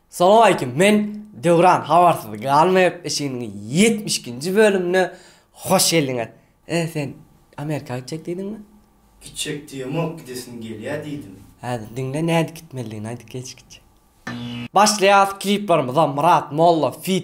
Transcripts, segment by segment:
Salam aleýkum. Men Döwran habarsyz galmaýar işiniň 72-nji bölümine hoş geldiňiz. E sen Amerika gitjek diýdiňmi? Gitjek diýemok, gidesim gelýär diýdim. Hä, diňle nädip gitmelidigini aýdyp geçgiçe. Başlaýas kliplerimize Myrat Molla feat.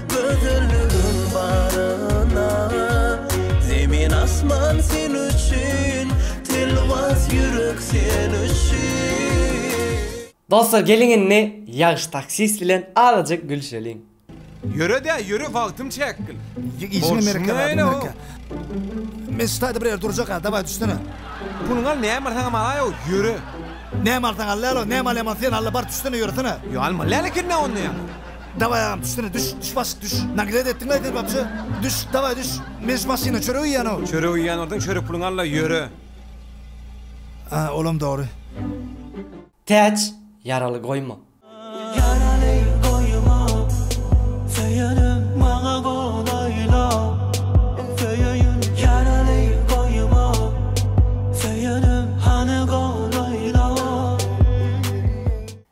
Gözelligin baryna Zemin asman sen üçin Telwas ýürek sen üçin Dostlar geliň indi ýagşy taksist bilen azajyk gülşeliň. Ýöredä ýöre wagtym çäkgil. Bolşuň näle o. Mesut haýda bir ýerde durjaka daway düşsene. Puluňy al näme alsaňam alaý o ýöre. Näme alsaň al lälo näme alýaman sen alla bar düşsene ýöresene. Ýa almaly läl ekendä onda ýa. Daway agam düşsene düş düş başyk düş naglet etdiňmi sen babja düş daway düş meniş maşyna çörek iýýän o. Çörek iýýän ordan çörek puluňy alla ýöre. A olam dogry. Täç ýaraly goýma. Ýaraly goýma söýenim maňa gol aýla söýeýin ýaraly goýma söýenim hany gol aýla.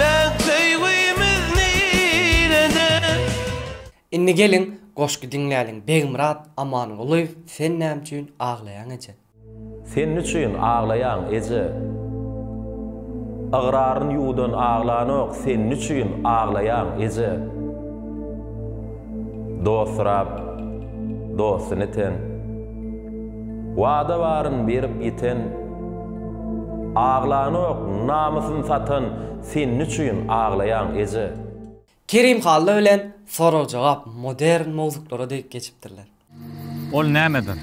Bagt söýgimiz nirede. Indi geliň goşgy diňläliň Begmyrat Amangulyýew Sen näme üçin aglaýaň eje. Sen niçün aglaýaň eje. Ygraryn ýuwdan aglanok Sen niçün aglaýaň eje. Dost Rab, dostun iten, Wada baryn berip ýiten, Aglanok, namysyn satan, Sen niçüýn aglaýaň, eje? Kerim Hally bilen Sorag-jogap modern mowzuklara dek geçipdirler. Ol nämedir?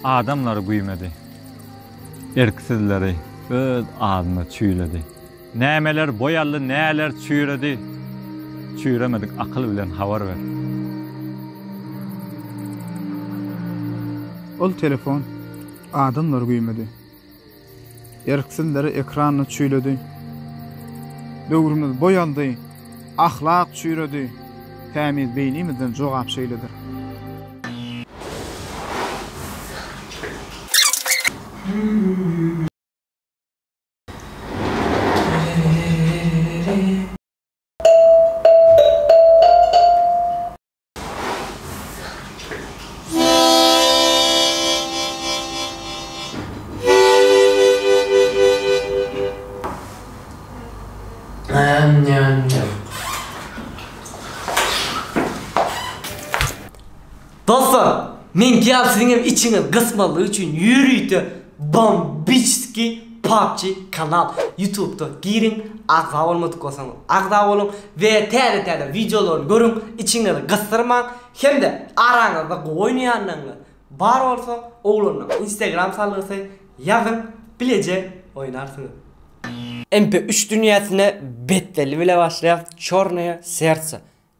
Adamlary güýmedi. Erksizleri öz adyna çüýledi. Nämeler boý aldy, näler çüýredi? Çüýremedik akyl bilen habar ber. Ol telefon. Adamlary güýmedi. Erksizleri ekranda çüýledi. Döwrümiz boý aldy, ahlak çüýredi, tämiz beýnimizden jogap şeýledir. Dostlar, men ki al siziň hem içiňiz gysmalyk üçin ýörite Bombiçski PUBG kanal ýutubda giriň agza bolmadyk bolsaň agza boluň we täze täze wideolary görüň içiňizi gysdyrmaň hemde araňyzda gowy oýnaýanlaryňyz bar bolsa oglanlaň instagram salgysy ýazyň bileje oýnarsyňyz. MP üç dünýäsine betbelli bile başlaýas çornoýe sertse.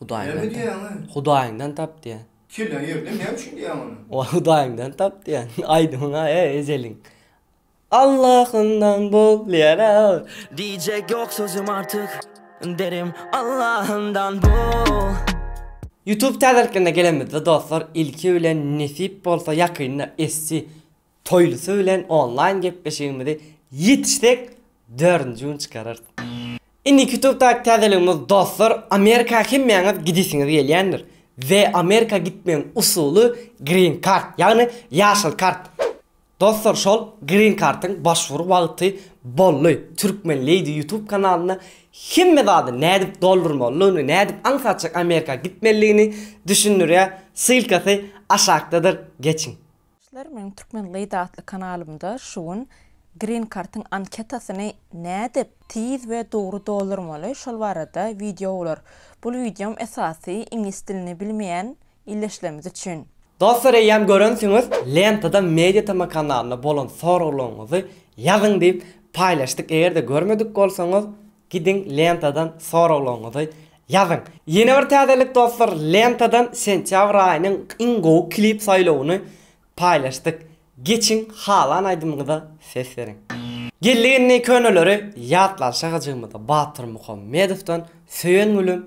Hudaýyňdan tap. Hudaýyňdan tap diýýän. Kelle ýerde näme üçin diýýän muny? Ol Hudaýyňdan tap diýýän. Aýdymyň-a ejeliň. Allahyndan bul diýýän-ä. Diýjek ýok sözüm artyk. Derim Allahyndan bul. Youtube täzeliklerine gelenimizde dostlar ilki bilen nesip bolsa ýakynda SC Toýlusy bilen onlaýn gepleşigimizi ýetişsek dördünji gün çykararys. Indiki ýutubdaky täzeligimiz dostlar Amerika hemmäňiz gidesiňiz gelýändir we Amerika gitmegiň usuly green kart ýagny ýaşyl kart. Dostlar şol green kartyň başwur wagty boldy Türkmen Lady ýutub kanalynda hemme zady nädip doldurmalydygyny nädip aňsatjak Amerika gitmelidigini düşündirýär ssylkasy aşakdadyr geçiň. Dostlar meniň Türkmen Lady atly kanalymda şu gün Green Card'yň anketasyny nädip tiz we dogry doldurmaly şol barada wideo bolar. Bul wideom esasy iňlis dilini bilmeýän ildeşlerimiz üçin. Dostlar eýýäm görensiňiz Lentada Media TM kanalynda bolan soraglaryňyzy ýazyň diýip paýlaşdyk egerde görmedik bolsaňyz Gidiň lentadan soraglaryňyzy ýazyň. Ýene bir täzelik dostlar lentadan sentýabr aýynyň iň gowy klip saýlawyny paýlaşdyk. Geçiň halan aýdymyňyza ses beriň. Geldi indi köneleri ýatlalyşa Hajymyza Batyr Muhammedowdan Söýen gülüm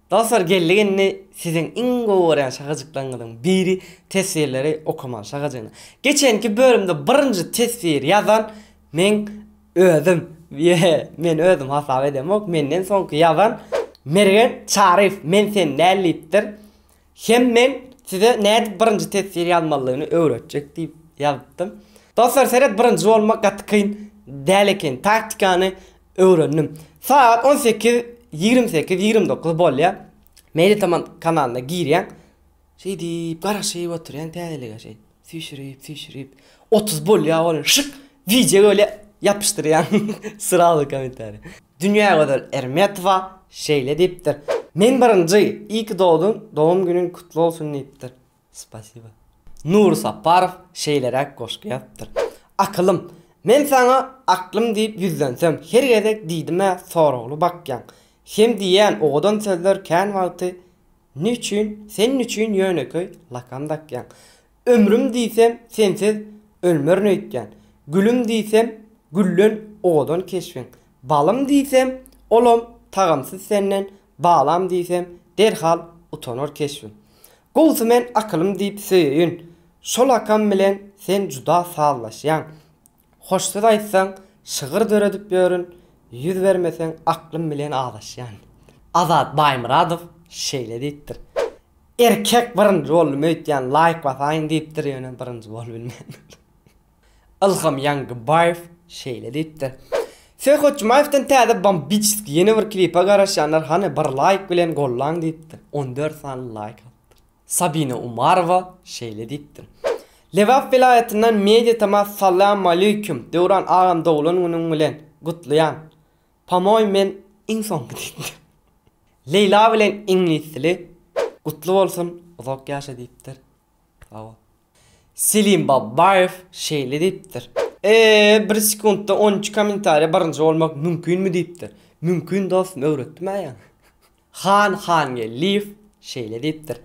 Dostlar geldik indi siziň iň gowy görýän şagajyklaryňyzyň biri teswirleri okaman şagajygyna. Geçenki bölümde birinji teswir ýazan meň özüm ýe men özüm hasap edemok menden soňky ýazan Mergen Çaryýew men sen däl diýipdir hem men size nädip birinji teswir ýazmalydygyny öwretjek diýip ýazypdym. Dostlar seret birinji bolmak gaty kyn däl eken taktikany Öwrendim. Sagat on sekiz ýigrimi sekiz ýigrimi dokuz bolýar. Meýli tamam kanalyna girýäň. Şeýdip garaşyp oturýaň täzelige şeý. Süýşürip süýşürip. Otuz bolýar olar. Şyk! Wideo bolýar. Ýapyşdyrýaň. Srazu kommentariý. Dünýägözel Ermetowa şeýle diýipdir. Men birinji, iyi ki dogdun, dogum günün kutlu bolsun diýipdir. Spasiba. Nury Saparow şeýleräk goşgy ýazypdyr, Akylym, men saňa aklym diýip ýüzlensem, her gezek diýdimä soragly bakýaň. Sen diýýän owadan sözler kän wagty ne üçin, sen üçin ýönekeý lakam dakýaň. Ömrüm diýsem, sensiz ölmerin öýtýän. Gülüm diýsem, güllen owadan keşbiň. Balym diýsem, olam tagamsyz senden, balam diýsem, derhal utanar keşbim. Gowsy men akylym diýip söýeýin. Şol akam bilen sen juda sazlaşýaň. Hoş söz aýtsaň, şygyr döredip ýörün, ýüz bermeseň aklym bilen azaşýan. Azat Baýmyradow şeýle diýipdir, Erkek birinji boldum öýtýän laýk basaýyn diýipdir ýöne birinji bolubilmändir. Ylham Ýaňgybaýew şeýle diýipdir, Serhat Jumaýewden täze bombiçeski ýene bir klipe garaşýanlar hany bir laýk bilen gollaň diýipdir, on dört sany laýk alypdyr. Sabina Umarowa şeýle diýipdir, Lebap welaýatyndan Media Tama Salamaleýkum Döwran agam doglan günüň bilen gutlaýan, Pamoý men iň soňky diýipdir. Leýla bilen iňlis dili gutly bolsun uzak ýaşa diýipdir. Selim Babbaýew şeýle diýipdir. Eee bir sekuntda on iki kommentariýa birinji bolmak mümkinmi diýipdir. Mümkin dostum öwretdim-ä ýaňy. Han Hangeldiýew şeýle diýipdir.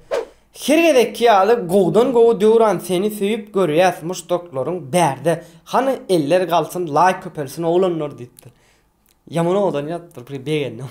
Her gezekki ýaly gowudan gowy Döwran seni söýüp görýäs muşdaklaryň bärde hany eller galsyn laýk köpelsin oglanlar diýipdir. Ýaman owadan ýazypdyr bir begendim.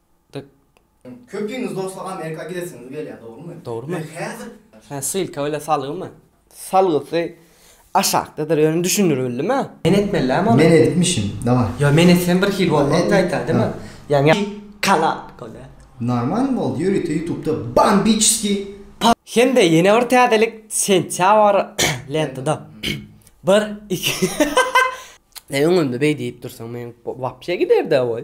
Dik. Köpiňiz dostlar Amerika gidesiňiz gelýär dogrymy? Dogrymy? Men häzir. Sen sylka bile salgymy? Salgysy aşakdadyr ýöne düşündir bildimä? Men etmellämi ony? Men edipmişim daway. Ýok men etsem bir hil bolmaz gaýta deme. Ýaňy kanal bolýa. Normalny boldy ýörite ýutubda bambiçskiý. Hemde ýene bir täzelik sentýabr lentada bir iki. Sen öňümde beý diýip dursaň men wapşe giderdä boý.